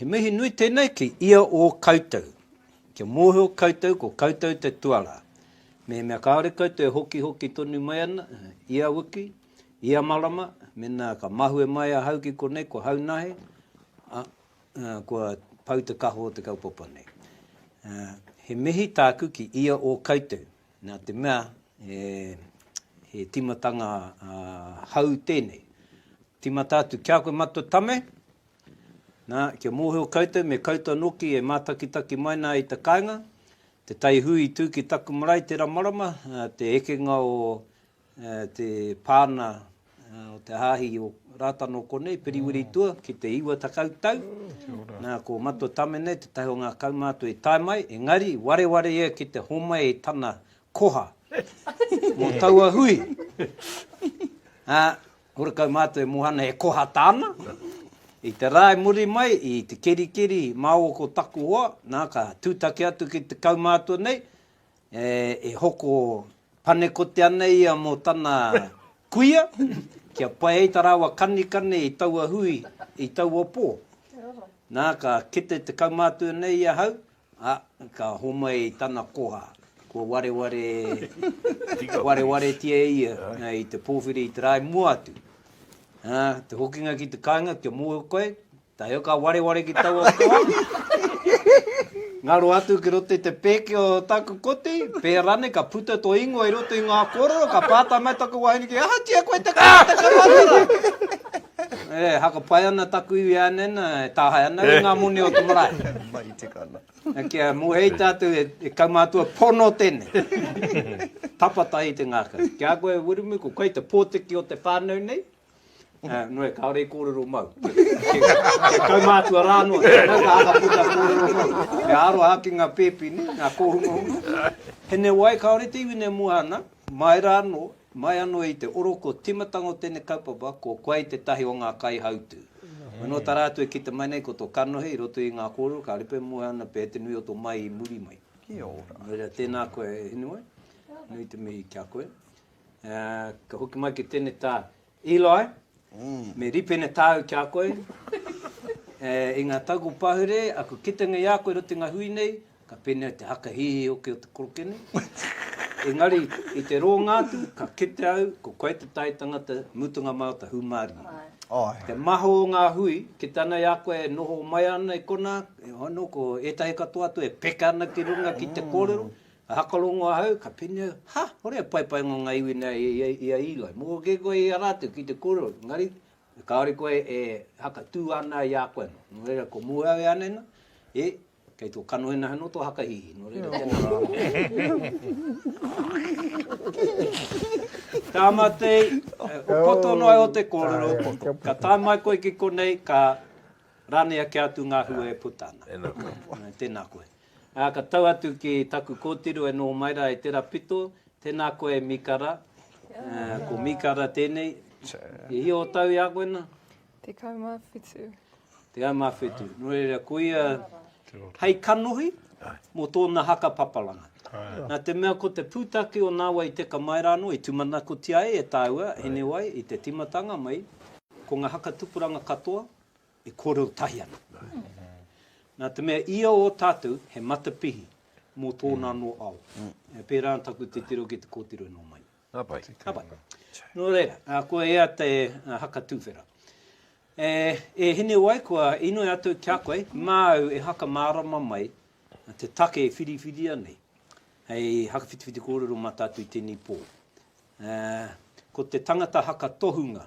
He mihi nui tēnei ki ia o koutou. Kia mōhio koutou ko koutou te tuarā. Mehemea kāore koutou e hokihoki tonu mai ana, ia wiki, Ia marama, mena ka mahue mai ahau ki konei ko Haunahe, a, a, kua pau te kaho o te kaupapa nei. A, he mihi tāku ki ia o koutou, nā te mea, e, he timatanga a, hau tēnei. Timata atu ki a koe matua tame, nā, kia mōhio koutou me koutou noki e mātakitaki mai nā i te kainga, te tai hui i tū ki taku marae tera marama, a, te ekenga o te pāna o te hāhi o Rātana konei, Piriwiritua, ki te iwa takau tau. Nā, ko Matua Tamene, te tahi o ngā kaumātua i tae mai, engari, wareware ia ki te homai i tana koha mō taua hui. Ā, horekau mātua e mohana e koha tāna. I te rā i muri mai, i te kerikeri māua ko taku hoa, nā, ka tūtaki atu ki te kaumātua nei, E, e hoko panekoti ana ia mō tana kuia, kia pai ai tā rāua kanikani i taua hui, i taua pō. Nā, ka kite te kaumātua nei i ahau, ā, ka homai i tana koha, kua wareware, warewaretia e ia i te pōwhiri i te rae mua atu. Ā, te hokinga ki te kāinga kia mōhio koe, Tae au ka wareware ki taua toa, ngaro atu ki roto i te pēke o taku koti, pēa ranei ka puta to ingoa i roto i ngā kōrero, ka pātai mai taku wahine ki, Ahatia koe te kore te karuatara? E, haka pai ana taku iwi e ane ana, e tāhae ana au i ngā moni o te marae. Mahi tika ana. E kia mohei tātou e, e kaumātua pono tēnei. Tapa tahi te ngākau. Ki a koe Wiremu, ko koe te pōtiki o te whānau nei, Nō, kāore i kōrero mau. He kaumātua rā noa, tēnā ka āka puta kōrero mau. Me āro aha ki ngā pēpi nei, ngā kōhungahunga. He nē wai kāore te iwi nei mua ana, mai rā anō, mai anō i te oro kua tīmatanga o tēnei kaupapa, ko koe ai tētahi o ngā kaihautū. Nō tā rātou e kite mai nei ko tō kanohi i roto i ngā kōrero, ka ripē mua ana pea te nui o tō mai i muri mai. Kia ora. Nō reira, tēnā koe e Hinemoe, nui te mihi ki a koe. Ā, ka hoki mai ki tēnei tā, Eli, me rīpene tāu ki a koe, ē, i ngā tau kua pahure aku kitenga i a koe i roto i ngā hui nei, ka pēnei ai te haka hihi hoki o te koroke nei. Engari, i te rōnga atu, ka kite au, ko koe te tai tangata, mutunga māu te hūmārie. Āe. Te maho o ngā hui, kite ana i a koe e noho mai ana i konā, e hono, ko ētahi katoa atu e peka ana ki runga ki te kōrero, I hakarongo ahau, ka pēnei au, Ha! Hore a Paepaenga o ngā iwi nei i a Eli. Mōhio kē koe i a rātou ki te kōrero, engari, kāore koe e haka tū ana i a koe anō. Nō reira, ko Mūhau e anaina, E! Kei tō kanohinaha anō tō hakahihi, nō reira, tēnā rānei. Tāmātei, o koto noa iho te kōrero, o koto. Ka tae mai koe ki konei, ka ranea kē atu ngā hua e puta ana. Tēnā koe. Ā, ka tau atu ki taku kōtiro e noho mai rā e tērā pito, Tēnā koe e Mīkara, ko Mīkara tēnei, i hio o tau i a koe nā? Tekau mā whitu. Tekau mā whitu. Nō reira, ko ia hei kanohi mō tōna haka papalanga. Nā te mea ko te pūtake o nāwai teka mai rā anō, i tūmanakotia ai e tāua, Hinewai, i te tīmatanga mai, ko ngā haka tupuranga katoa, e kōrero tahi ana. Nā te mea ia o tātou he matapihi mō tōna anō ao. Pērā ana taku titiro ki te kōtiro e nō mai. Ka pai. Ka pai. Nō reira, kua ea te haka tūwhera. E, e Hinewai, kua inoi atu ki a koe, māu e haka mārama mai te take e whiriwhiria nei, hei haka whitiwhiti kōrero mā tātou i tēnei pō. E, ko te tangata haka tohunga,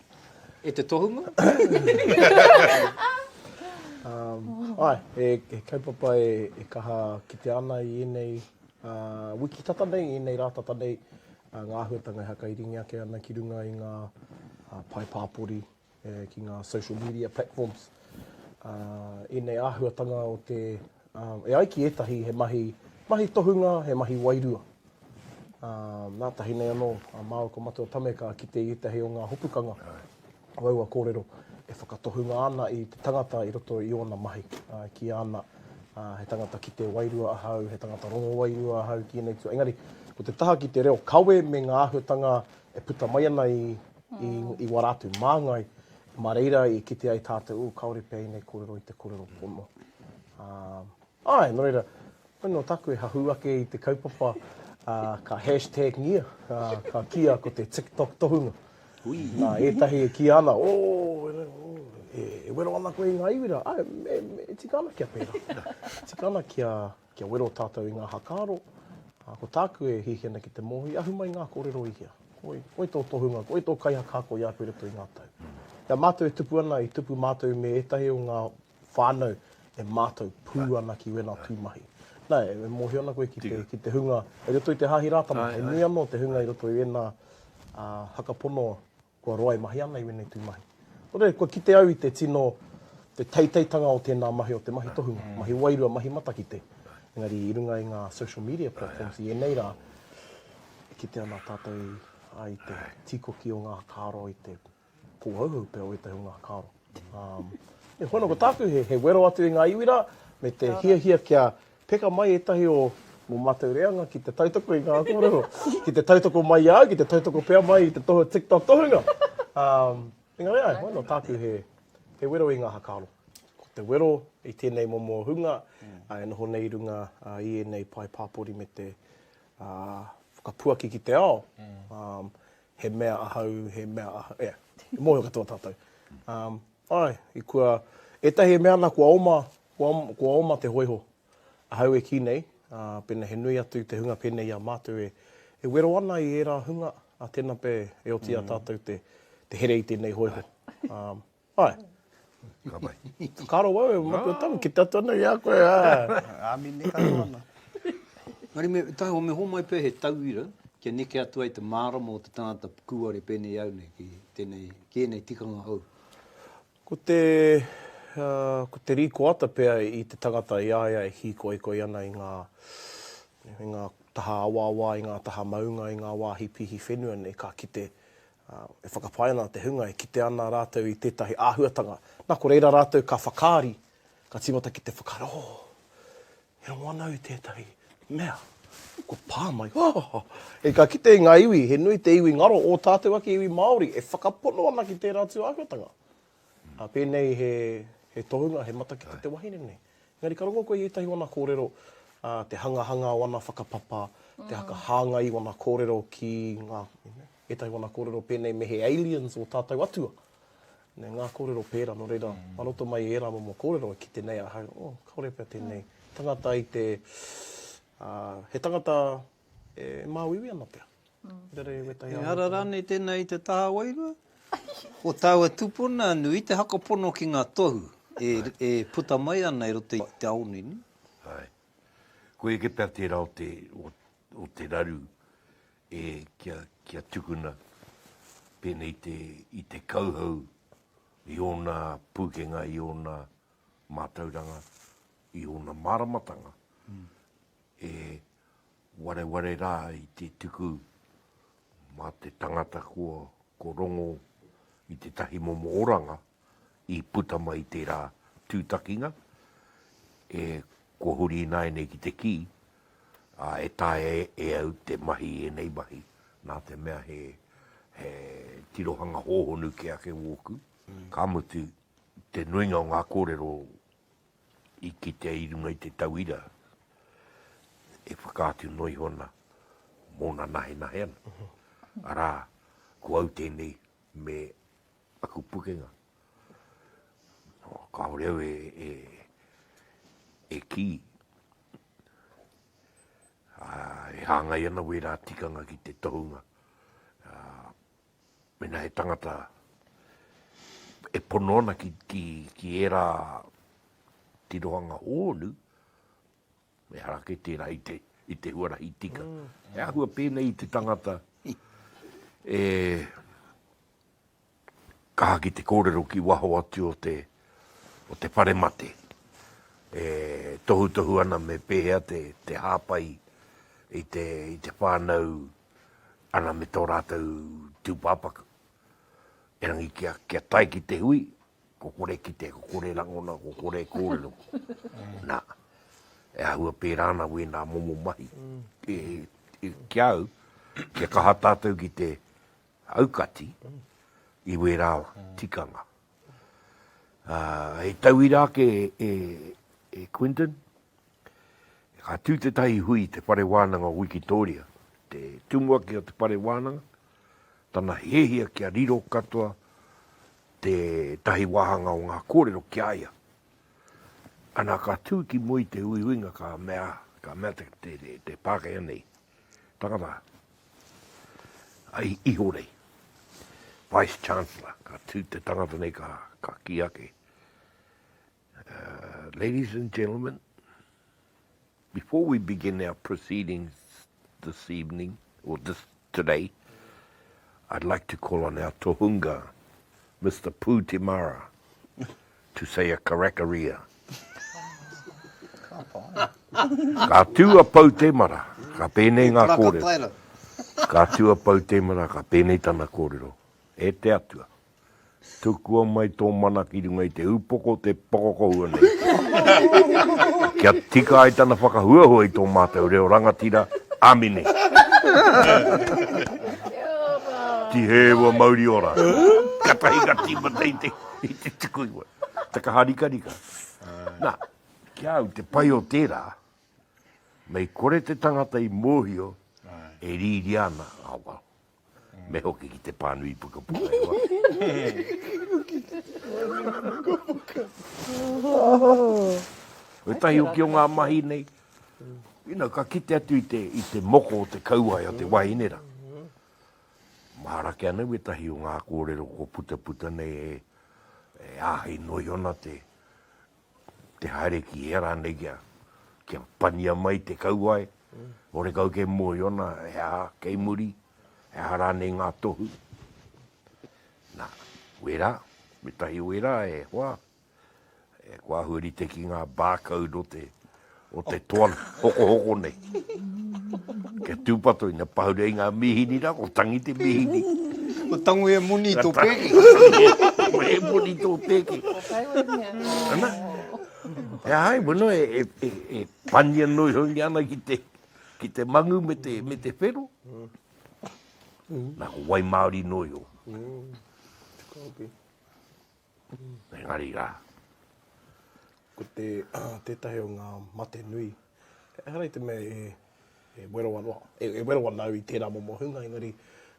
E te tohunga? Ae, he kaupapa e kaha kitea ana i enei wiki tata nei, enei ra tata nei, nga ahuatanga e hakairingi ake ana ki runga i nga pae papori, ki nga social media platforms. Enei ahuatanga o te, e ai ki etahi he mahi tohunga, he mahi wairua. Ā, nā tahi nei anō a māua ko Matua Tame ka kite i ētahi o ngā hopukanga o aua kōrero e whakatohunga ana i te tangata i roto i ōna mahi. Ā, e kīia ana, ā, he tangata kite wairua ahau, he tangata rongo wairua ahau ki ēnei tū. Engari, ko te taha ki te reo kawe me ngā āhuatanga e puta mai ana i, i, i wā rātou māngai, mā reira i kite ai tātou, ū, kāore pea ēnei kōrero i te kōrero pono. Ā, āe, nō reira, Nō tāku e hahū ake i te kaupapa ka hashtag-ngia, ka kīia ko te TikTok tohunga. Nā ētahi e kīia ana, ooh, e wero ana koe i ngā iwi rā. Āe, e tika ana kia pērā. E tika ana kia wero tātou i ngā hakaaro. Ā, ko tāku e hiahia ana ki te mōhio, i ahu mai ngā kōrero i hea. Koe, koe tō tohunga, koe tō kaihaka ako i a koe i roto i ngā tau. Nā, mātou e tupu ana, i tupu mātou me ētahi o ngā whānau e mātau pū ana ki wēnā tū mahi. Nā, e mōhio ana koe ki te, ki te hunga, i roto i te Hāhi Rātana, he nui anō te hunga i roto i wēnā haka pono kua roa e mahia ana i wēnei tū mahi. Nō reira, kua kite au i te tino, te teiteitanga o tēnā mahi, o te mahi tohunga, mahi wairua, mahi matakite. Engari i runga i ngā social media platforms i ēnei rā, e kite ana tātau i te tīkoki o ngā kāro i te. Ko Oahu pea o ētahi o ngā karo. E hono ko tāku he wero atu i ngā iwi rā, me te hiahia kia peka mai ētahi o ngō mātou reanga ki te tautoko i ngā kōrero, ki te tautoko mai i a au, ki te tautoko pea mai i te tohu TikTok tohunga. Engari āe, hono tāku he wero i ngā hakaro. Ko te wero i tēnei momo hunga e noho nei i runga i ēnei pae pāpori me te whakapuaki ki te ao, He mea ahau, he mea ahau, ea. I mōhio katoa tātou. Um, ai, i kua, ētahi e mea ana kua oma, kua, kua oma te hoiho. Ahau e kī nei, uh, pēnei he nui atu te hunga pēnei i a mātou e, e wero ana i ērā hunga, a tēnā pea e oti mm. a tātou te, te here i tēnei hoiho. Um, Āe. Ka pai. Ka roa au e matua tamu, kite atu ana i a koe, āe. Āmine, ka roa ana. Engari me taua, me hōmai pea he tauira kia neke atu ai te mārama o te tangata kūare pēnei i au nei ki tēnei, ki ēnei tikanga hou. Ko te, ko te rīkoata pea i te tangata i a ia e hīkoikoi ana i ngā, i ngā taha awaawa, i ngā taha maunga, i ngā wāhi pīhi whenua nei, ka kite, E whakapae ana te hunga e kite ana rātou i tētahi āhuatanga, nā, ko reira rātou ka whakaari, ka tīmata ki te whakaaro, Oh, e rongo ana au i tētahi mea. Kua pā mai, Oh! Hei ka kite i ngā iwi, he nui te iwi ngaro, ō tātou ake iwi Māori, e whakapono ana ki tērā atu āhuatanga. Ā, pēnei he, he tohunga, he matakite te wahine nei. Engari ka rongo koe i ētahi o ana kōrero, te hangahanga o ana whakapapa, te hāngai i ana kōrero ki ngā, ētahi wana kōrero pēnei me he aliens o tātou atua. Nē, ngā kōrero pērā, nō reira, mā roto mai i ērā momo kōrero e kite nei ahau, oh, kāore pea tēnei tangata i te, he tangata e māuiui ana pea. Ehara rānei tēnā i te taha wairua? Ko tāua tūpuna, nu, i te hakapono ki ngā tohu e puta mai ana i roto i te ao nei, nē? Āe. Koia pea tērā o te raru E kia, kia tukuna pēnei te, i te kauhau, i ōna pūkenga, i ōna mātauranga, i ōna māramatanga, e wareware rā i te tuku mā te tangata kua, kua rongo i tētahi momo oranga, i puta mai tērā tūtakinga e kua huri ināianei ki te kī, ā, e taea e au te mahi i ēnei mahi, nā te mea he, he tirohanga hōhonu kē ake wōku, ka mutu, te nuinga o ngā kōrero i kitea i runga i te tauira e whakaatu noa iho ana mōna nahenahe ana. Arā, ko au tēnei me Aku pukenga. Kāore au e kī, e hāngai ana wērā tikanga ki te tohunga. Mēnā he tangata e pono ana ki ērā tirohanga hōnu, Me hara ake tērā i te, i te huarahi tika. Mm. He ahua pēnei i te tangata e kaha ki te kōrero ki waho atu o te, o te whare mate. E tohutohu ana me pēhea te, te hāpai i te, i te whānau ana me tō rātou tūpāpaku. Erangi kia, kia tai ki te hui, Ko kore kite, ko kore rangona, ko kore kōrero. Nā, e āhua pērā ana wēnā momo mahi. Ki a au, kia kaha tātou ki te aukati i wērā tikanga. He tauira ake e Quinton, ka tū tētahi hui i te Whare Wānanga o Wikitōria, te tumuaki o te Whare Wānanga, tana hiahia kia riro katoa tētahi wāhanga o ngā kōrero ki a ia. Ana ka tū ki mua i te uiuinga ka mea, ka mea te, te, te, te Pākehā nei, tangata, ai ihorei, Vice Chancellor, ka tū te tangata nei ka, ka ki ake. Ladies and gentlemen, before we begin our proceedings this evening, or this today, I'd like to call on our tohunga, Mr. Pū Te Mara, to say a karakaria. Ka tū a Pou Te Mara, ka pēnei ngā kōrero. Ka tū a Pou Te Mara, ka pēnei tana kōrero. E te Atua. Tukua mai tō mana ki runga i te upoko o te pokokohua nei, kia tika ai tana whakahuahua i tō mātou reo rangatira. Amine. Tihē ua mauri ora. Katahi ka tīmata i te, i te tuku i wai. Takaharikarika. Na, ki a au, te pai o tērā, mei kore te tangata i mōhio e rīria ana, ah well. me hoki ki te pānui pukapuka e wā. Koe tahi hoki o ngā mahi nei, you know, ka kite atu i te, i te moko o te kauae o te wahine ra. Mahara ke ana wetahi o ngā kōrero ko puta puta nei e, e āhei noi ona te, te haere ki hea rānei kia, kia pania mai te kauae, ore kau kei Moiona, he aha kei muri, he aha rānei ngā tohu. Nā, wērā, me tahi wērā e hoa, e kua ahurite ki ngā barcode o te, o te toa hokohoko nei. Kia tūpato i na pahure i ngā mīhini rā, ko tangi te mīhini. Ko tango e moni tō pēke. Ko e moni tō pēke. Ko kai wai mea. Ana. E hai, bueno, e, e, e, e pania noi hoi ni ana ki te, ki te mangu me te, me te whero. Nā ko wai Māori noi o. Mm. Engari rā. Ko te, tētahi o ngā mate nui, ehara i te mea e, e wero anō, e, e wero ana au i tērā momo hunga, engari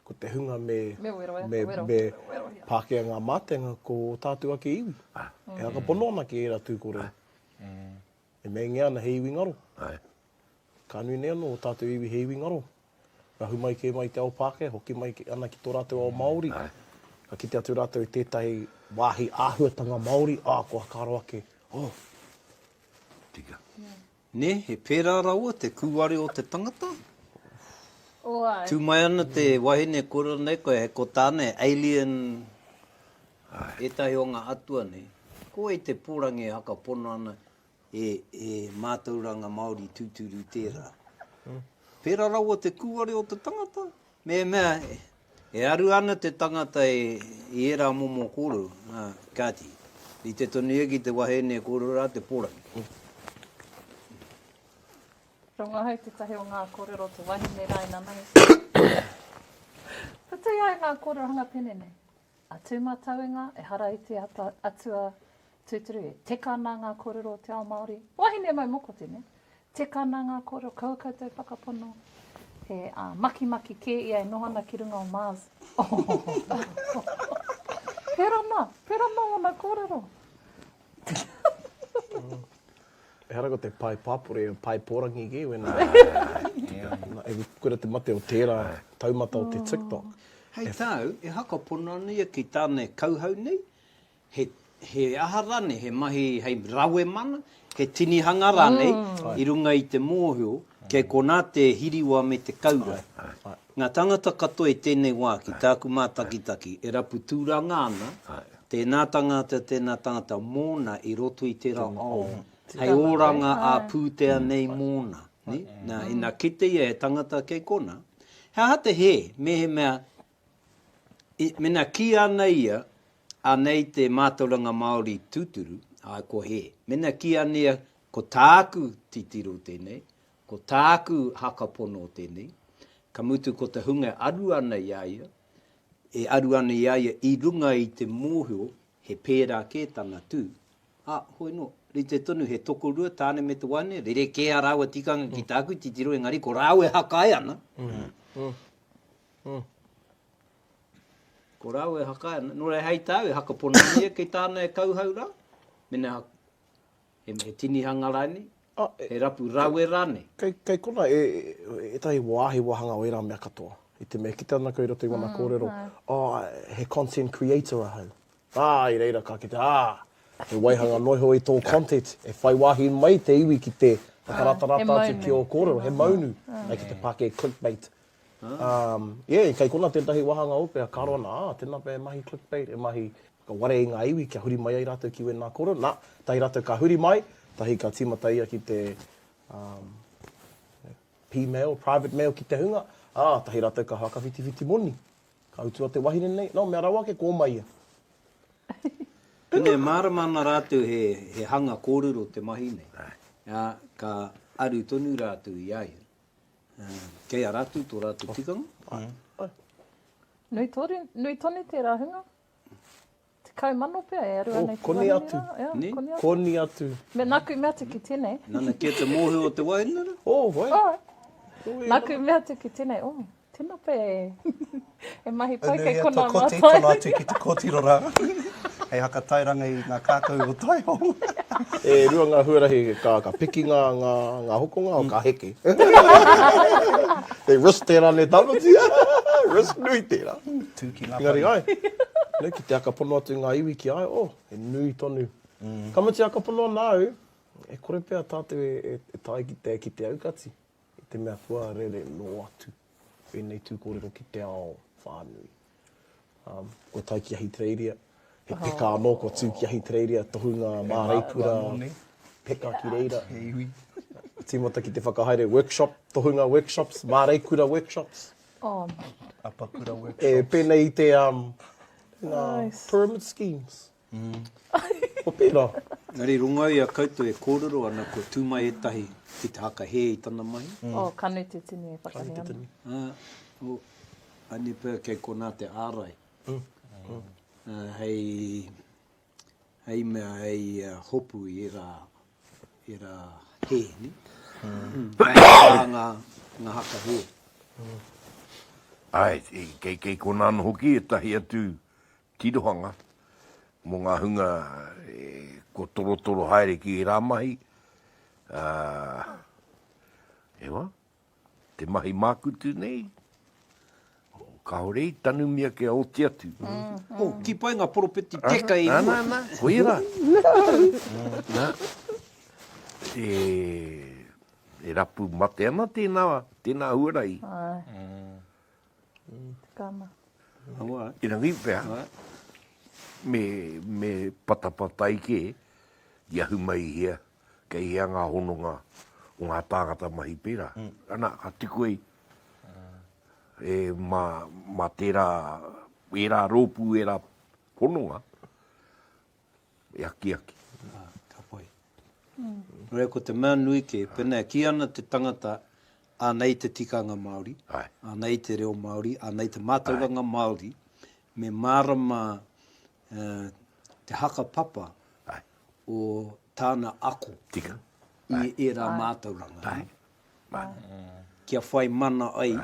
ko te hunga me, Me wero, e, me, wero. me Wero, ia. pākea ngā mātenga ko ō tātou ake iwi. E whakapono ana ki ērā tū kore. E meingia ana he iwi ngaro. Ae. Ka nui nei ano o tatou iwi he iwi ngaro. Rahu mai ke mai te ao Pakeha, hoki mai ana ki to ratou ao Maori. Ae. Ka kite atu ratou i tetahi wahi ahuatanga Maori, a koa ka aro ake, oh. Tika. Ne, he pera rawa te kuware o te tangata. Tu mai ana te wahine kura nei koe, he ko tana he alien Ētahi o ngā atua nei, ko wai te pōrangi e haka pono ana e e mātauranga Māori tūturu tērā. Pērā rawa te kūware o te tangata, mehemea e aru ana te tangata e i ērā momo kōrero, ā, kāti, rite tonu ia ki te wahine e kōrero rā te pōrangi. Ko ngā hau tētahi o ngā kōrero o te wahine rā inanai. Putui ai ngā kōrero hanga pene nei. A tū mātauinga, ehara i te ata atua tūturu e. Teka nā ngā kōrero o te ao Māori. Wahine mau moko tēnei. Teka nā ngā kōrero kaua koutou whakapono he ā, makimaki kē ia e noho ana ki runga o Mars. Ohohoho! Pērā nā, pērā nā ōna kōrero. Ehara ko te pae papore, pae porangi ki when I e kore te mate o tera taumata o te TikTok. Hei tau, e haka pono ana ia ki tana e kauhau nei, he he aha ranei, he mahi hei rawe mana, he tinihanga ranei i runga i te mohio, kei kona te hiriwa me te kaura. Ngā tāngata katoa i tēnei wā ki tāku mātakitaki e rapu tūranga ana, tēnā tāngata, tēnā tāngata mōna i roto i tērā ao hei oranga ā-pūtea nei mōna. Nā, ina kite ia he tangata kei konā, he aha te hē mehemea i, mēnā kīia ana ia, anei te mātauranga Māori tūturu, āe ko hē. Mēnā kīia ana ia ko tāku titiro tēnei, Ko tāku haka pono tēnei, ka mutu ko te hunga e aru ana i a ia, e aru ana i a ia i runga i te mōhio he pērā kē tana tū, ā, hoi nō, rite tonu he tokorua tāne me te waeine, rerekē ā rāua tikanga ki tāku titiro engari ko rāua e hakae ana, ko rāua e hakae ana, nō reira hei tāu e haka pono ana ia kei tāna e kauhau rā, mēnā He tinihanga rānei? He rapu rawe rānei? Kei konā ētahi wāhi wāhanga o ērā mea katoa. I te mea, kite ana koe i roto i ngana kōrero, oh, he content creator ahau. Ā, i reira ka kite, ā, he waihanga noa iho i tō content, e whai wāhi mai te iwi ki te whakarātarāta atu ki ō kōrero, he maunu, hei ki te pākē clickbait. Yeah, kei konā tētahi wāhanga ope a karo ana, ā, tēnā pea e mahi clickbait, e mahi Ka warea i ngā iwi kia huri mai ai rātou ki wēnā koro. Nā, tahi rātou ka huri mai, tahi ka tīmata ia ki te, um, pī mail, private mail ki te hunga, ā, tahi rātou ka whakawhitiwhiti moni. Ka utua te wahine nei, nō, mea rawa ake, kōmai ia. Pēnei e mārama ana rātou he, he hanga kōrero te mahi nei, ā, ka aru tonu rātou i a ia. Ā, kei a rātou tō rātou tikanga. Nui toru, nui tonu tērā hunga? Tekau mano pea e aru ana i te wahine. Oh, koni atu. Yeah, koni atu. Koni atu. Me naku mea atu ki tenei. Nana ki te mohe o te wahine ra? Oh, wai. Oh. Naku mea atu ki tenei, oh, tena pe e mahi pai kei kona ma tai. Tena atu ki te kotiro ra. Hei haka tairanga i nga kakou o Taihong. E rua nga huarahi ka piki nga hokonga o ka heke. They risk tera ne tamatia. Risk nui tera. Tū ki ngā pari. Engari ai, nui ki te akapono atu i ngā iwi ki a au, oh, he nui tonu. Ka mutu e akapono ana au, e kore pea tātou e tae ki te ki te aukati, i te mea kua rere noa atu ēnei tū kōrero ki te ao whānui. Kua tae ki Ahitereiria, he peka anō kua tū ki Ahitereiria, tohunga māreikura, peka ki reira. He iwi. Tīmata ki te whakahaere workshop, tohunga workshops, māreikura workshops. E pēnei i te pyramid schemes. Ko tērā. Engari runga i a koutou e kōrero ana kua tū mai ētahi ki te whakahē i tana mahi. O, Kanu Te Tini e whakahē ana. Ā, o, a Nipa kei konā te ārai hei. hei mea hei hopu i ērā, ērā hē, nē? Ērā ngā, ngā haka hē. Āe, kei, kei konā anō hoki ētahi atu tirohanga mō ngā hunga e, kua torotoro haere ki ērā mahi, ā, hewa. te mahi mākutu nei, kāore i tanumia kia oti atu. Oh, tipa ai ngā poropiti teka e rua. Ana, ana, ana, koia rā. Nā, e, e rapu mate ana tēnā, tēnā huarahi. Ai. Tikana. Awa. Erangi pea. Awa. Me, me patapatai ke, i ahu mai hea. kei hea ngā hononga o ngā tāngata mahi pērā. Ana, ka tukua i, e, mā, mā tērā, ērā rōpū, ērā hononga, e akiaki. Ā, ka pai. Nō reira, ko te mea nui kē, pēnā e kī ana te tangata, anei te tikanga Māori, anei te reo Māori, anei te mātauranga Māori, me mārama te haka papa o tāna ako i ērā mātauranga. Kia whai mana ai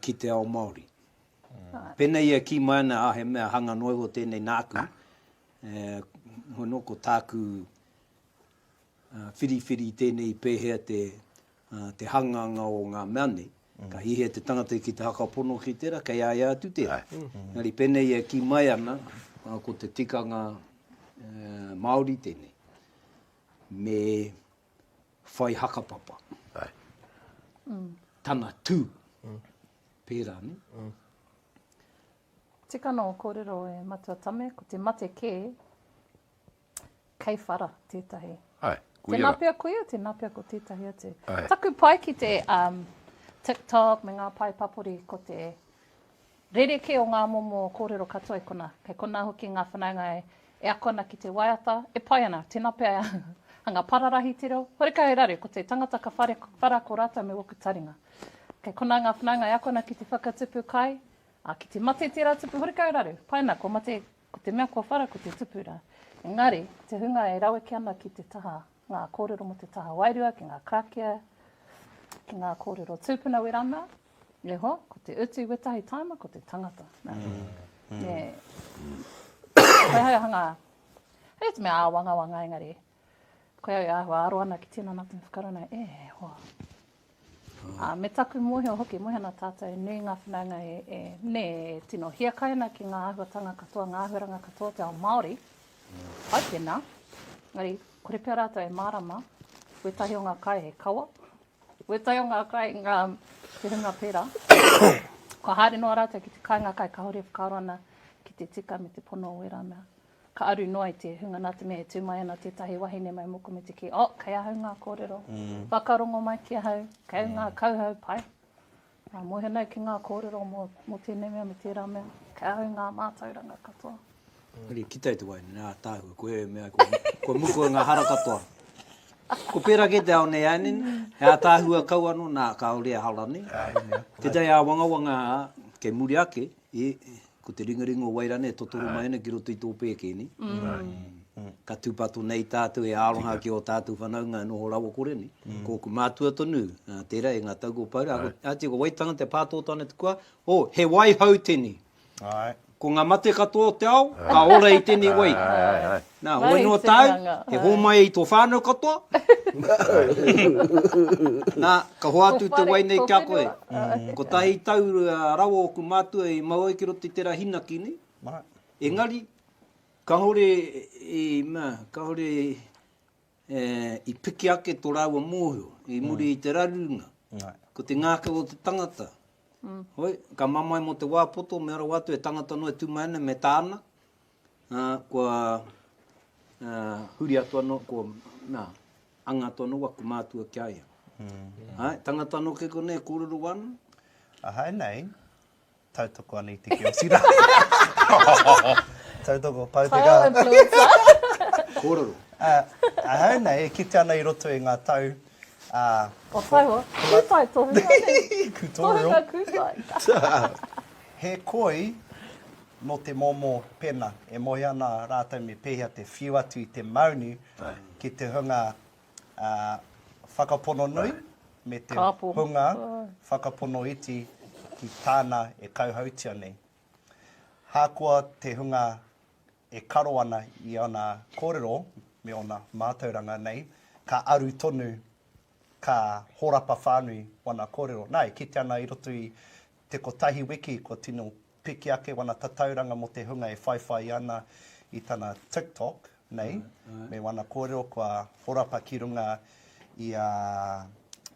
ki te ao Māori. Pēnei ia kī mai ana, he mea hanga noa iho tēnei nāku, hono ko tāku whiriwhiri tēnei pēhea te te hanganga o ngā mea nei. Ka hihia te tangata ki te hakapono ki tērā, kei a ia atu tērā. Engari pēnei e kī mai ana, ko te tikanga Māori tēnei, me whai hakapapa. Tana tū, pērā nei. Tika nō kōrero e Matua Tame, ko te mate kē, Kei whara tētahi. Ai, ko ia rā. Tēnā pea ko ia, tēnā pea ko tētahi atu. Ai. Taku pai ki te TikTok me ngā pae papori ko te rerekē o ngā momo kōrero katoa i konā. Kei konā hoki ngā whanaunga e ako ana ki te waiata, e pai ana. Tēnā pea hanga pararahi te reo. Horekau e raru, ko te tangata ka whare whara ko rātou me woku taringa. Kei konā ngā whanaunga e ako ana ki te whakatupu kai, ā, ki te mate tērā tupu, horekau e raru. Pai ana, kua mate Ko te mea kua whara ko te tupura. Engari, ko te hunga e raweke ana ki te taha, ngā kōrero mō te taha wairua ki ngā karakia, ki ngā kōrero tūpuna wera ana, me hoa, ko te utu wetahi tāima ko te tangata. Me, whai hai aha ngā, hei te mea āwangawanga engari, Koia au e āhua aro ana ki tinana tonu whakarunga, e hoa. Ā, me taku mōhio hoki, mōhio ana tātou, nui ngā whanaunga e, e, nē, e tino hiakai ana ki ngā āhuatanga katoa, ngā āhuaranga katoa o te ao Māori, hai tēnā, engari, kore pea rātou e mārama, wētahi o ngā kai he kawa, wētahi o ngā kai, ngā, te hunga pērā, kua haere noa rātou ki te kāinga kai, kāore e whakaaro ana ki te tika me te pono o ērā mea. Ka aru noa i te hunga nā te mea e tū mai ana tētahi wahine mai mōku me te kī, Oh, kei ahau ngā kōrero. Whakarongo mai ki ahau, kei ngā kauhau pai. Ngā mōhionau ki ngā kōrero mō, mō tēnei mea me tērā mea. Kei ahau ngā mātauranga katoa. Engari ki tai te wahine nei, Ātaahua, koe e mea ai kua, kua mukua ngā hara katoa. Ko pērā kē te ao nei ānei nei, he ātaahua kau anō, nā, kāore e hara nei. Tētahi āwangawanga kei muri ake. E, ko te ringaringa o Wairane e totoro mai ana ki roto i tō pēke nei. Ka tūpato nei tātou e aroha ki ō tātou whanaunga e noho rawakore nei. Ko ōku mātua tonu, tērā e ngā tau kua pau rā, a Tio, ko wai tangata e pātōtō ana te kua? Ō, he wai hau tēnei. Ko ngā mate katoa o te ao, ka ora i tēnei wai. Nā, hoi noa tāu, e hōmai ai tō whānau katoa. Nā, ka hoatu te wai nei ki a koe. Kotahi tau rawa ōku mātua i mau ai ki roto i tērā hinaki nei. Engari, kāore i, mea, kāore i piki ake tō rāua mōhio i muri i te rarunga. Ko te ngākau o te tangata. Hoi, ka mamae mō te wā poto, mea rawa atu, he tangata noa e tū mai ana, me tāna. Ā, kua huri atu anō, kua, nā, anga atu anō waku mātua ki a ia. Āe, tangata anō kē konei e kōrero wāna? Ahau nei, tautoko ana i te kiosi rā. Tautoko, pau te kaha. Kōrero, influencer. Kōrero. Ahau nei, e kitea ana i roto i ngā tau, ā... Kua tae hoa. Kūtai tohunga nei. Kūtai. Tohunga kūtai. He koi nō te momo pena e moe ana rātou me pēhea te whiu atu i te maunu ki te hunga whakapono nui me te hunga whakapono iti ki tāna e kauhautia nei. Hākoa te hunga e karo ana i ōna kōrero me ōna mātauranga nei, ka aru tonu, ka horapa whānui ōna kōrero. Nā, e kitea ana i roto i te kotahi wiki kua tino piki ake wana tatauranga mo te hunga e whaiwhai ana i tana TikTok nei me wana korero kua horapa ki runga i a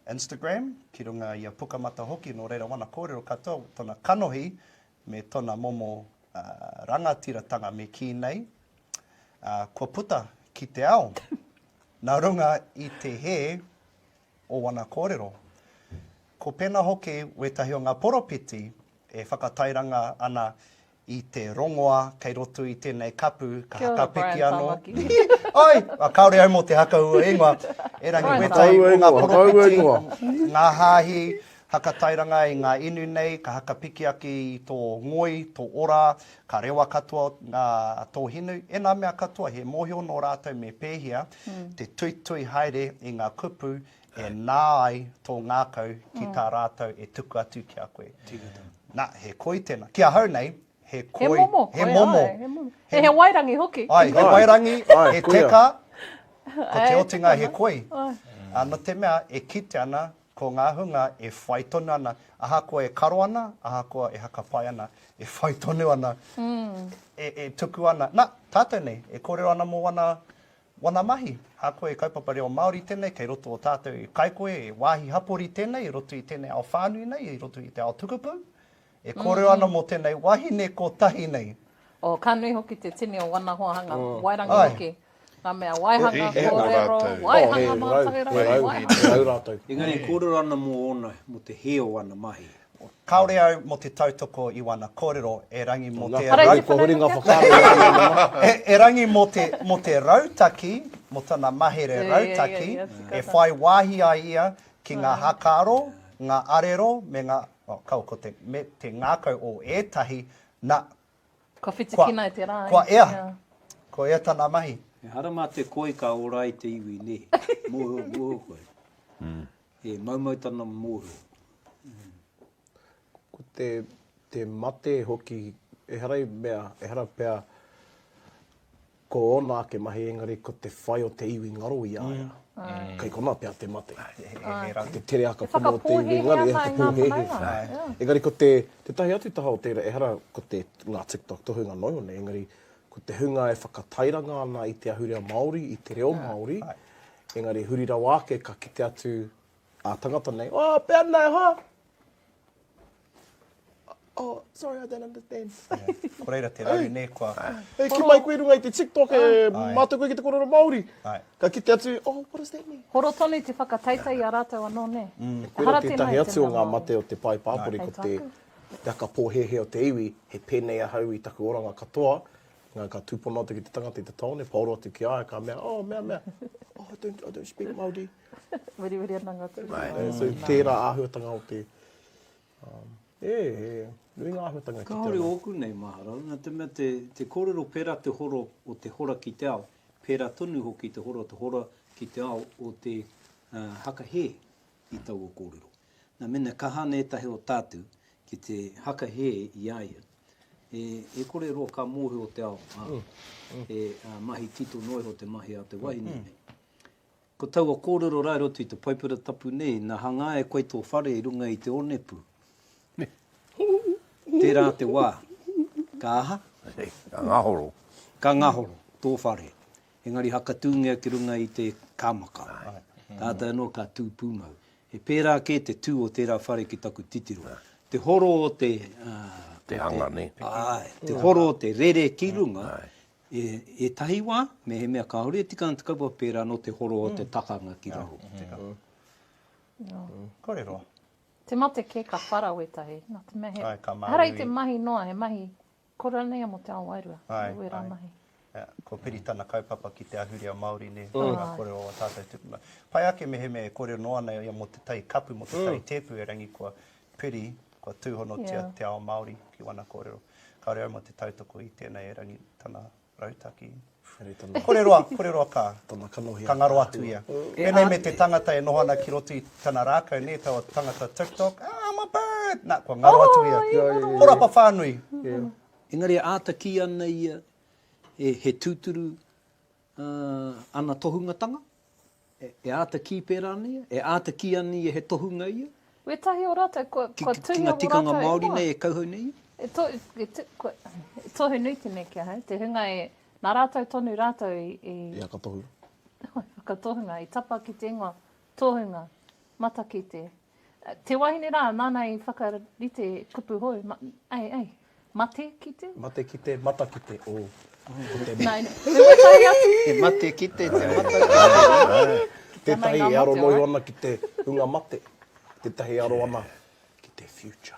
Instagram, ki runga i a Pukamata hoki no reira wana korero katoa tona kanohi me tona momo rangatiratanga me ki nei kua puta ki te ao na runga i te he o wana korero. Ko pena hoki wetahi o nga poropiti e whakatairanga ana i te rongoa kei roto i tenei kapu ka hakapeti ano Oi! Kaore au mo te hakaua ingoa, erangi wetahi o nga poropiti, nga hahi, hakatairanga i nga inu nei ka hakapikiaki i to ngoi, to ora, ka rewa katoa nga to hinu, ena mea katoa he mohio no ratou me pehea. te tuitui haere i ngā kupu e nā ai tō ngākau ki tā rātou e tuku atu ki a koe. Nā, he koi tēnā. Ki ahau nei, he koi... He momo koi, he momo. Ai, he momo. He, he wairangi hoki. Ai, he wairangi, he teka, ko te otinga he koi. Ai. Nō te mea, e kite ana Ko ngā hunga e whai tonu ana, ahakoa e karo ana, ahakoa e hakapai ana, e whai tonu ana, e tuku ana. Na, tātou nei, e kōrero ana mō wana mahi. A koe, he kaupapa reo Māori tēnei, kei roto o tātou, kai koe, he wāhi hapori tēnei i roto i tēnei ao whānui nei, i roto i te ao tukupū. E kōrero ana mō tēnei wahine kotahi nei. Oh, ka nui hoki te tini o wana hoa hanga, wairangi hoki. Nga mea waihanga, kōrero, waihanga mātou rau, waihanga. Engari e kōrero ana mō ōna, mō te hē o ana mahi. Kāore au mō te tautoko i wana kōrero, erangi mō te rau. Kua huri nga whakaaro i a Maunga. Erangi mō te rautaki, mō tana mahere rautaki, e whai wāhi ai ia ki nga hakaaro, nga arero, me nga. Oh, kaua ko te, me te ngākau o ētahi, na. Kua whitikina e te rā, eh? Kua ea. Ko ea tana mahi. Ehara mā te koi ka ora ai te iwi, nē. Mōhio, mōhio koe. He maumau tana mōhio. Ko te, te mate hoki, ehara i mea, ehara pea, Ko ōna ake mahi engari ko te whai o te iwi ngaro i a ia. Kei konā pea te mate. Ko te tere aka pono o te iwi ngaro e whakapōhēhē. Engari ko te, tētahi atu taha o tērā, ehara ko te, ngā TikTok tohunga noa iho nei, engari ko te hunga e whakatairanga ana i te ahurea Māori, i te reo Māori, engari huri rawa ake ka kite atu ā tangata nei, Oh, pēnei hā! Oh, sorry, I don't understand. Ko reira te raru nei kua... Hei, ki mai koe i runga i te TikTok e mātou koe ki te korero Māori. Ka kite atu, oh, what does that mean? Horo tonu te whakataetae i a rātou anō, nē? Koira tētahi atu o ngā mate o te pae pāpori, ko te aka pōhēhē o te iwi, he pēnei ahau i taku oranga katoa, engari ka tūpono atu ki te tangata i te taone, paoro atu ki a ia, ka mea, oh, mea, mea, oh, I don't speak Māori. Weriweri ana nga tū. So tērā āhuatanga o te, e, e, nui ngā āhuatanga e kite ana. Kāore ōku nei maharau, nā te mea te kōrero pērā te horo o te hora ki te ao, pērā tonu hoki te horo o te hora ki te ao o te haka hē i taua kōrero. Nā, mēnā kaha ana ētahi o tātou ki te haka hē i a ia, e, e kore roa ka mōhio te ao, ā, e mahi tito noa iho te mahi a te wahine nei. Ko taua kōrero rae roto i te Paipera Tapu nei, na hangā e koe tō whare i runga i te onepu. Tērā te wā. Ka aha? Ka ngahoro. Ka ngahoro tō whare. Engari hakatūngia ki runga i te kāmaka. Tātai anō ka tū pūmau. He pērā kē te tū o tērā whare ki taku titiro. Te horo o te... Te hanga, nē? Āe. Te horo o te rere ki runga, E ētahi wā, mehemea kāore e tika ana te kaupapa pērā anō te horo o te takanga ki raro. Kōrero. Te mate kē ka whara wētahi, nā te mea he, ehara i te mahi noa, he mahi kora nei a mō te ao wairua, he wērā mahi. Ko Piri tana kaupapa ki te ahurea Māori nei, ko ngā kōrero o ā tātou tupuna. Pai ake mehemea e kōrero noa ana ia mō te tai kapu, mō te tai tēpu, erangi kua piri kua tūhonotia te ao Māori ki wana kōrero. Kāore au mō te tautoko i tēnei erangi tana rautaki. Kore-roa, kore-roa ka, ka ngaro atu ia. Pēnei me te tangata e noho ana ki roto i tana rākau, nē, taua tangata TikTok, ah, I'm a bird! Nā, kua ngaro atu ia. Horapa whānui! Engari e āta kī ana ia he tūturu ana tohungatanga. E āta kī pērā nei ia? E āta kī ana ia he tohunga ia? Wētahi o rātou kua tuhia mō rātou e hoa? Ki ngā tikanga Māori nei e kauhau nei ia? E tohu nui tēnei ki ahau, te hunga e, nā rātou tonu rātou i. I whakatohu. I whakatohunga, i tapa ki te ingoa, tohunga, matakite, Te wahine rā, nāna i whakarite kupu hou, ei, ei, mate ki te? Mate ki te, mata ki te, o, ko te mea. He waitai atu. He mate ki te, te mata ki te. Tētahi e aro noio ana ki te hunga mate, tētahi e aro ana ki te future.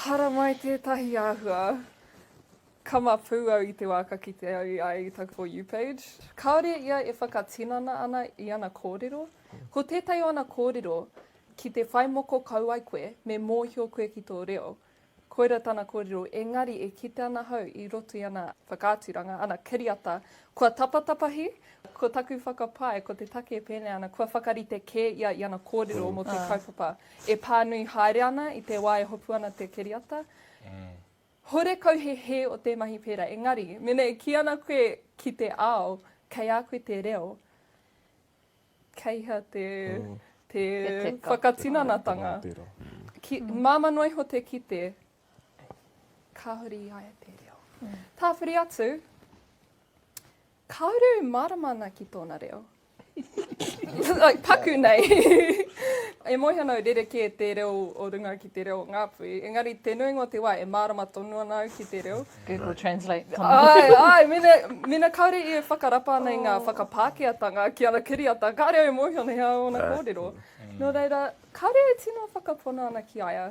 Haramai tētahi āhua kamapu au i te wā ka kite au i a ia i taku For You page. Kāore ia e whakatinana ana i ana kōrero. Ko tētahi o ana kōrero, ki te whai moko kau ai koe, me mōhio koe ki tō reo. Koira tana kōrero, engari e kite ana ahau i roto i ana whakaaturanga, ana kiriata, kua tapatapahi, ko taku whakapae, ko te take e pēnei ana, kua whakarite kē ia i ana kōrero mō te kaupapa. E pānui haere ana i te wā e hopu ana te kiriata. Horekau he hē o te mahi pērā, engari, mēnā e kī ana koe ki te ao, kei a koe te reo, kei hea te whakatinanatanga? Māmā noa iho te kite, kāore i a ia te reo. Tāwhiri atu, Kāore e mārama ana ki tōna reo. like, paku nei. e moe ana au rerekē te reo o runga ki te reo o Ngāpuhi, engari te nuinga o te wā e mārama tonu ana au ki te reo. Google Translate tonu. Āe, āe, mena, mena kāore i e whakarapa ana i ngā whakapākehātanga ki ana kiriata, kāore au e mōhio ana he aha ōna kōrero. Nō reira, kāore e tino whakapono ana ki a ia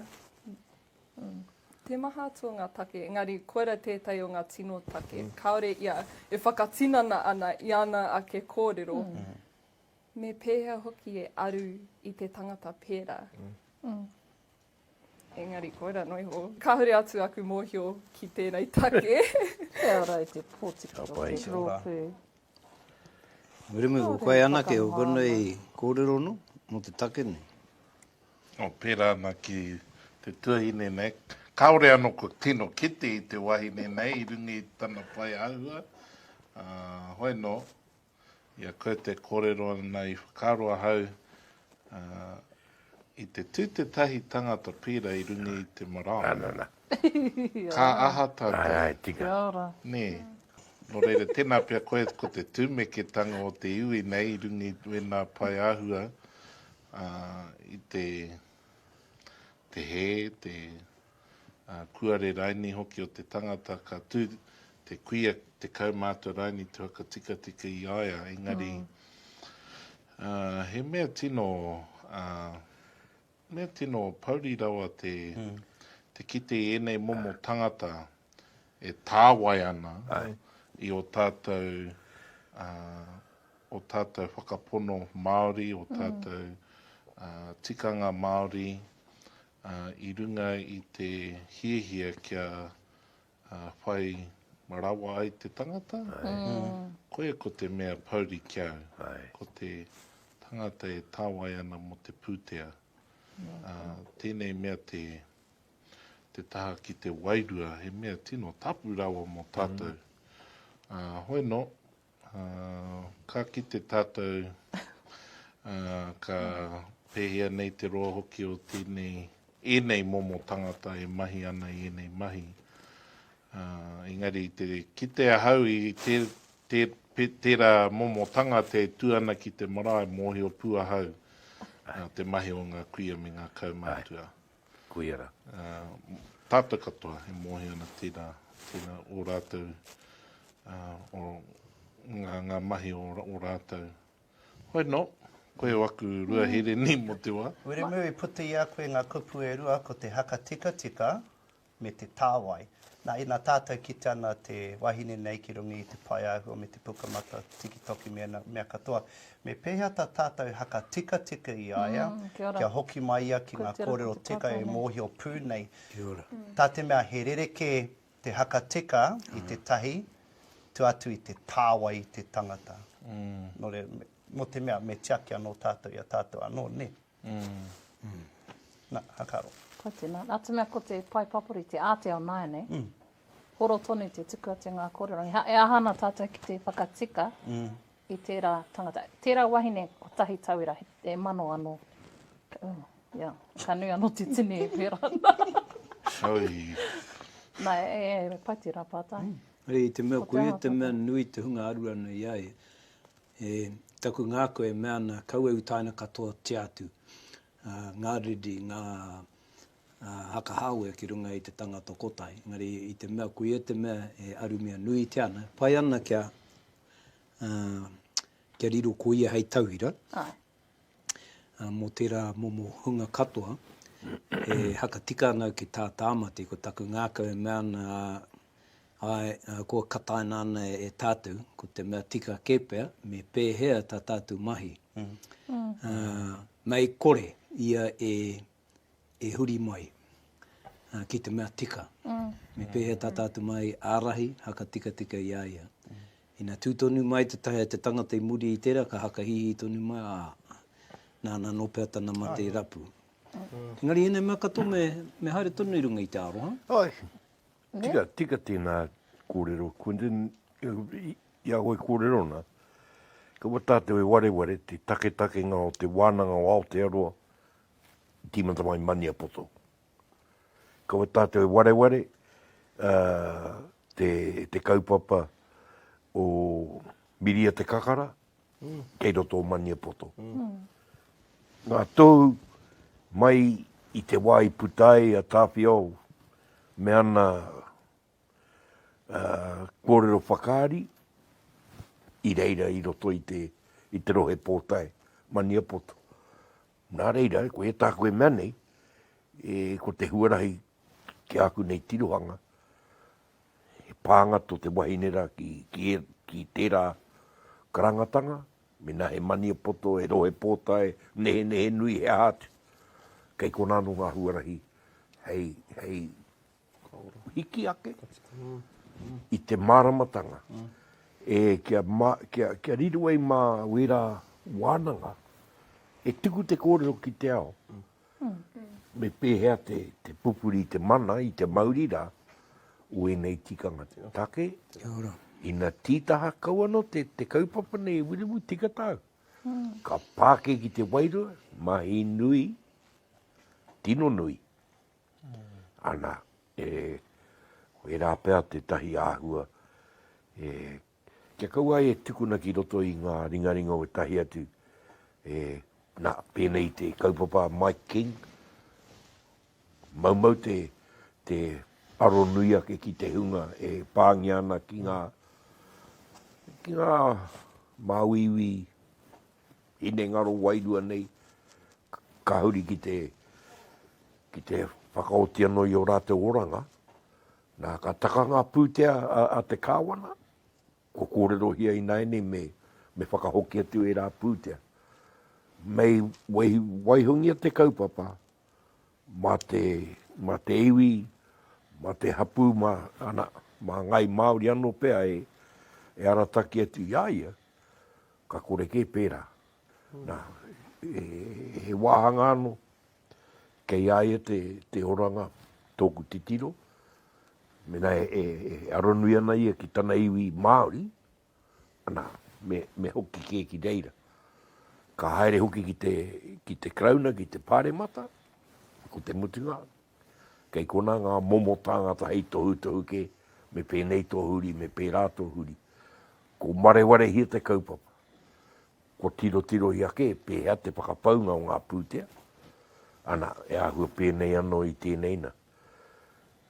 Te maha atu o ngā take, engari koirā tētahi o ngā tino take, kāore ia e whakatinana ana i ana ake kōrero, me pēhea hoki e aru i te tangata pērā. Engari koirā noa iho, kāore atu aku mōhio ki tēnei take. He ara i te pōtiki o te rōpū. Muremure, ko koe anake, ko konei kōrero nō, nō te take nei. Nō pērā ana ki te tuahine nei, kāore anō kua tino kite i te wahine nei i runga i tana pae āhua, ā, hoi nō, i a koe te kōrero ana i whakaaro ahau, ā, i te tū tētahi tangata pīra i runga i te marae. Nana, nana. Ka aha tātou? Kia ora. Nē. Nō reira, tēnā pea koe ko te tūmeketanga o te iwi nei i runga i wēnā pae āhua i te te hē, te kuare raini hoki o te tangata. Ka tū te kuia tekau mātua raini te whakatikatika i a ia, engari he mea tino Mea tino pouri rawa te te kite i enei momo tangata e tāwai ana i o tātou o tātou whakapono Māori, o tātou tikanga Māori i runga i te hiahia kia Ā, whai rawa ai te tangata, koia ko te mea pouri ki au. Ko te tangata e tāwai ana mō te pūtea. Ā, tēnei mea te, te taha ki te wairua, he mea tino tapu rawa mō tātou. Ā, hoi nō, Ā, ka kite tātou, ā, ka pēhea nei te roa hoki o tēnei, ēnei momo tangata e mahi ana i ēnei mahi. Ā, engari i te kite ahau i tē, tē, pē, tērā momo tangata e tū ana ki te marae, mōhio pū ahau, ā, te mahi o ngā kuia me ngā kaumatua. Kuia ra. Tatou katoa e mohi ana tena, tena o ratou o nga nga mahi o ratou. Hoi no, koe o aku rua here ni mo te wa. Wiremu i puta i a koe nga kupu e rua ko te haka tikatika, me te tāwai. Nā, ina tātou kite ana te wahine nei ki runga i te pae āhua me te puka mata tikitoki me ana mea katoa, me pēhea tā tātou haka tikatika i a ia, kia hoki mai ia ki ngā kōrero tika e mōhio pū nei. Tā te mea he rerekē te haka tika i te tahi, tua atu i te tāwai i te tangata. Nō reira, mō te mea me tiaki anō tātou i a tātou anō, nē? Na, a ka aro. Kai tena, na te mea ko te pae papori te āteao nāianei, horo tonu te tuku atu i ngā kōrero. E aha ana tātou ki te whakatika i tērā tangata, tērā wahine kotahi tauira, e mano anō, ia, ka nui anō te tini e pērā ana. Hei. Na, e pai tērā pātai. Hei, te mea koia, te mea nui te hunga aruanui ai, E taku ngako e mea ana kaua e utaina katoatia atu ngā riri, ngā haka hāwea ki runga i te tangata kotahi. Engari i te mea koia te mea e arumia nuitia ana, pai ana kia riro ko ia hei tauira, mō tērā momo hunga katoa e hakatika ana au ki tā Tāmati, ko taku ngākau e mea ana, āe, kua kataina ana e tātou, ko te mea tika kē pea, me pēhea tā tātou mahi. Mei kore ia e huri mai ki te mea tika, me pēhea tā tātou mahi ārahi, hakatikatika i a ia. Ina tū tonu mai te tae a te tangata i muri i tērā ka hakahihi tonu mai, ā, nāna anō pea tana mate rapu. Engari ēnei mea katoa me, me haere tonu i runga i te aroha. Āe, tika, tika tēnā kōrero Quinton, i a koe kōrero ana, kua tātou e wareware te taketakenga o te wānanga o Aotearoa i tīmata mai Maniapoto. Kua tātou e wareware te kaupapa o Miria Te Kakara kei roto o Maniapoto. Ngā tohu mai i te wā i puta ai a Tāwhiao me ana kōrero whakaari i reira i roto i te rohe pōtae Maniapoto. Nā reira, ko e tāku e mea nei, e, ko te huarahi ki āku nei tirohanga, he pānga tō te wahine rā ki, ki, e, ki tērā karangatanga, mēnā he maniapoto, he rohe pōtae, nehenehe nui, he aha atu, kei konā anō ngā huarahi hei, hei Hiki ake i te māramatanga e kia, kia, kia riro ai mā wērā wānanga e tuku te kōrero ki te ao. Me pēhea te, te pupuri i te mana, i te mauri rā, o ēnei tikanga take. Ina tītaha kau anō te, te kaupapa nei e Wiremu tika tāu. Ka pāke ki te wairua, mahi nui, tino nui. ana, e, ko ērā pea tētahi āhua e, kia kaua e tukuna ki roto i ngā ringaringa o ētahi atu, e, nā, pēnei te kaupapa a Mike King, maumau te, te aro nui ake ki te hunga e pāngia ana ki ngā, ki ngā māuiui, hinengaro wairua nei, ka huri ki te, ki te whakaoti anō i ō rātou oranga. Nā, ka taka ngā pūtea a, a te Kāwana, kua kōrerohia ināianei me, me whakahoki atu ērā pūtea. Mei wai, waihongia te kaupapa mā te, mā te iwi, mā te hapū, mā, ana, mā Ngāi Māori anō pea e, e arataki atu i a ia, Ka kore kē pērā. Nā, he wāhanga anō, kei a ia te oranga, tōku titiro, mēnā e aronui ana ia ki tana iwi Māori, ana, me hoki kē ki reira. Ka haere hoki ki te Karauna, ki te Pāremata, ko te mutunga, Kei konā ngā momo tāngata hei tohutohu kē, me pēnei tō huri, me pērā tō huri. Ko marewarehia te kaupapa. Kua tirotirohia kē pēhea te whakapaunga o ngā pūtea, ana, e āhua pēnei anō i tēnei nā.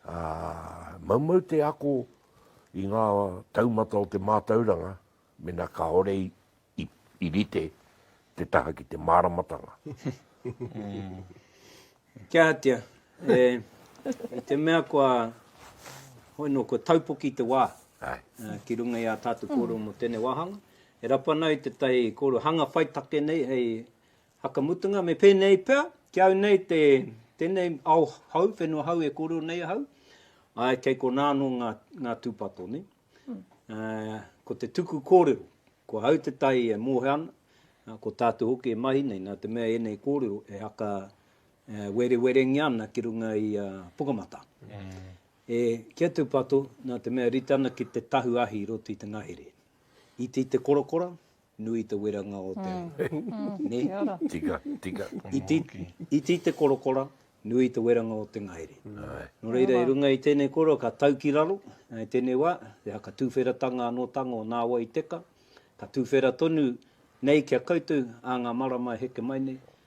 Ā, maumau te ako i ngā taumata o te mātauranga, Mena kaore i rite te taha ki te maramatanga. Kia hatia, i te mea kua, hoi no, kua taupoki te wa ki runga i a tatou korero mo tenei wahanga, e rapana ai tetahi korero hanga whai take nei hei whakamutunga, me penei pea, ki au nei te, tenei ao hou, whenua hou e korero nei ahau, ae kei kona ano nga tupato nei. Ko te tuku kōrero, ko au te tai e mōhio ana, ko tātou hoki e mahi nei, nā te mea ēnei kōrero e haka werewerengia ana ki runga i a Pukamata. E, kia tūpato, nā te mea rite ana ki te tahu ahi i roto i te ngahere. Iti te korokora, Nui te weranga o te ngahere. Tika, tika. Iti te korokora, nui te weranga o te ngahere. Nō reira, i runga i tēnei kōrero, ka tau ki raro, i tēnei wā, te aha, ka tūwheratanga anō tanga o nāwai i teka, ka tūwhera tonu nei ki a koutou, ā ngā marama e heke mai nei,